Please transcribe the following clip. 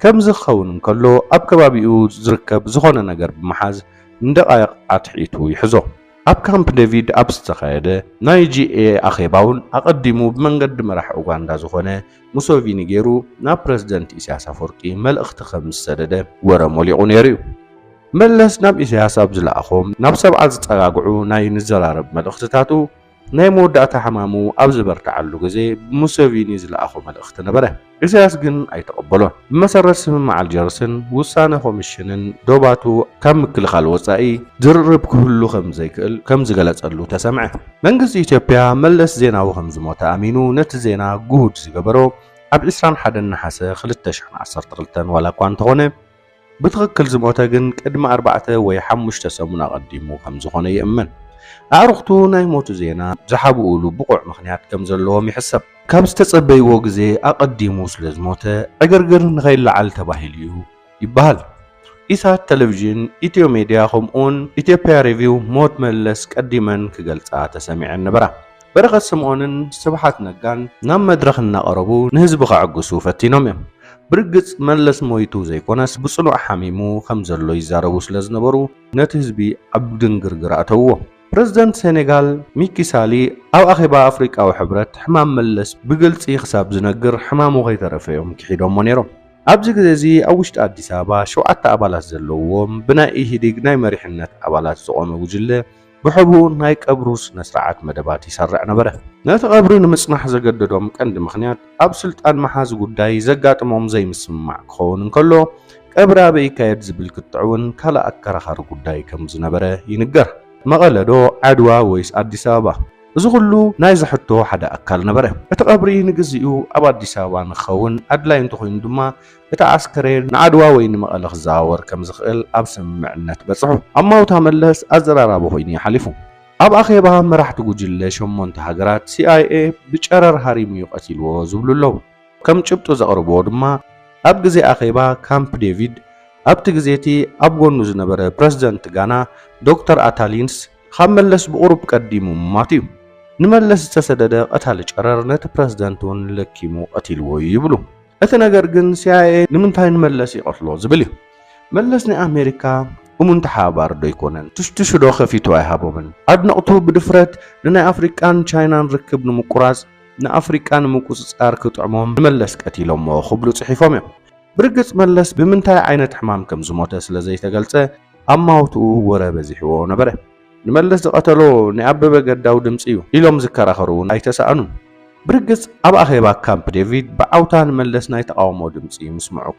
ከምዚ ክኸውን እንከሎ ኣብ ከባቢኡ ዝርከብ ዝኾነ ነገር ብምሓዝ ንደቓይቕ ኣትሒቱ ይሕዞ። ኣብ ካምፕ ደቪድ ኣብ ዝተኻየደ ናይ GA ኣኼባውን ኣቐዲሙ ብመንገዲ መራሒ ኡጋንዳ ዝኾነ ሙሰቪኒ ገይሩ ናብ ፕረዚደንት ኢሳያስ ኣፈወርቂ መልእኽቲ ከም ዝሰደደ ወረ ሞሊቑ ነይሩ'ዩ። መለስ ናብ ኢሳያስ ኣብ ዝለኣኾም ናብ ሰብዓ ዝጸጋግዑ ናይ ንዘራረብ መልእኽትታቱ፣ ናይ መወዳእታ ሕማሙ ኣብ ዝበርትዓሉ ግዜ ብሙሰቪኒ ዝለኣኾ መልእኽቲ ነበረ። ኢሳያስ ግን ኣይተቐበሎን። ብመሰረት ስምምዕ ኣልጀርስን ውሳነ ኮምሽንን ዶባቱ ካብ ምክልኻል ወጻኢ ዝርርብ ክህሉ ከም ዘይክእል ከም ዝገለጸሉ ተሰምዐ። መንግስቲ ኢትዮጵያ መለስ ዜናዊ ከም ዝሞተ ኣሚኑ ነቲ ዜና ግሁድ ዝገበሮ ኣብ ዕስራን ሓደን ነሓሰ ክልተ ሽሕን ዓሰርተ ክልተን ዋላኳ እንተኾነ፣ ብትኽክል ዝሞተ ግን ቅድሚ ኣርባዕተ ወይ ሓሙሽተ ሰሙን ኣቐዲሙ ከም ዝኾነ ይእመን። ኣዕሩኽቱ ናይ ሞቱ ዜና ዝሓብኡሉ ብቑዕ ምኽንያት ከም ዘለዎም ይሕሰብ። ካብ ዝተጸበይዎ ግዜ ኣቐዲሙ ስለ ዝሞተ ዕግርግር ንኸይለዓል ተባሂሉ'ዩ ይበሃል። ኢሳት ተለቪዥን፣ ኢትዮ ሜድያ ከምኡ'ውን ኢትዮጵያ ሬቪው ሞት መለስ ቀዲመን ክገልጻ ተሰሚዐን ነበራ። በረኸት ስምኦንን ስብሓት ነጋን ናብ መድረኽ እናቐረቡ ንህዝቢ ከዕግሱ ፈቲኖም እዮም። ብርግጽ መለስ ሞይቱ ዘይኮነስ ብጽኑዕ ሓሚሙ ከም ዘሎ ይዛረቡ ስለ ዝነበሩ ነቲ ህዝቢ ኣብ ድንግርግር ኣእተውዎ። ፕረዚደንት ሴኔጋል ሚኪ ሳሊ ኣብ ኣኼባ ኣፍሪቃዊ ሕብረት ሕማም መለስ ብግልጺ ክሳብ ዝነግር ሕማሙ ከይተረፈ እዮም ክሒዶሞ ነይሮም። ኣብዚ ግዜ እዚ ኣብ ውሽጢ ኣዲስ ኣበባ ሸውዓተ ኣባላት ዘለውዎም ብናይ ኢህዲግ ናይ መሪሕነት ኣባላት ዝቖመ ጉጅለ ብሕቡእ ናይ ቀብሩ ስነስርዓት መደባት ይሰርዕ ነበረ። ነቲ ቀብሪ ንምጽናሕ ዘገደዶም ቀንዲ ምኽንያት ኣብ ስልጣን መሓዚ ጉዳይ ዘጋጥሞም ዘይምስምማዕ ክኸውን እንከሎ፣ ቀብሪ ኣበይ ይካየድ ዝብል ክትዕ'ውን ካልእ ኣከራኻሪ ጉዳይ ከም ዝነበረ ይንገር። መቐለ ዶ ዓድዋ ወይስ ኣዲስ ኣበባ? እዚ ኩሉ ናይዚ ሕቶ ሓደ ኣካል ነበረ። እቲ ቀብሪ ንግዚኡ ኣብ ኣዲስ ኣበባ ንክኸውን ኣድላይ እንተኾይኑ ድማ እቲ ኣስከሬን ንኣድዋ ወይ ንመቐለ ክዘዋወር ከም ዝኽእል ኣብ ስምምዕነት በጽሑ። ኣብ ማውታ መለስ ኣዘራራቢ ኮይኑ እዩ ሓሊፉ። ኣብ ኣኼባ መራሕቲ ጉጅለ ሸሞንተ ሃገራት፣ ሲኣይኤ ብጨረር ሃሪሙ እዩ ቀቲልዎ ዝብሉ ኣለዉ። ከም ጭብጢ ዘቕርብዎ ድማ ኣብ ግዜ ኣኼባ ካምፕ ዴቪድ ኣብቲ ግዜ እቲ ኣብ ጎኑ ዝነበረ ፕረሲደንት ጋና ዶክተር ኣታሊንስ ካብ መለስ ብቑሩብ ቀዲሙ ምሟቱ እዩ። ንመለስ ዝተሰደደ ቀታሊ ጨረር ነቲ ፕረሲደንት እውን ለኪሙ ቀቲልዎ እዩ ይብሉ። እቲ ነገር ግን ሲኣይኤ ንምንታይ ንመለስ ይቐትሎ ዝብል እዩ። መለስ ናይ ኣሜሪካ እሙን ተሓባባሪ ዶ ኣይኮነን? ትሽትሹ ዶ ከፊቱ ኣይሃቦምን? ኣድነቕቱ ብድፍረት ንናይ ኣፍሪቃን ቻይናን ርክብ ንምቁራጽ፣ ንኣፍሪቃ ንምቁጽጻር ክጥዕሞም ንመለስ ቀቲሎሞ ክብሉ ጽሒፎም እዮም። ብርግጽ መለስ ብምንታይ ዓይነት ሕማም ከም ዝሞተ ስለ ዘይተገልጸ፣ ኣብ ማውትኡ ወረ በዚሕዎ ነበረ። ንመለስ ዝቐተሎ ናይ ኣበበ ገዳው ድምጺ እዩ ኢሎም ዝከራኸሩ እውን ኣይተሳእኑን። ብርግጽ ኣብ ኣኼባ ካምፕ ዴቪድ ብዓውታ ንመለስ ናይ ተቓውሞ ድምጺ ምስምዑ።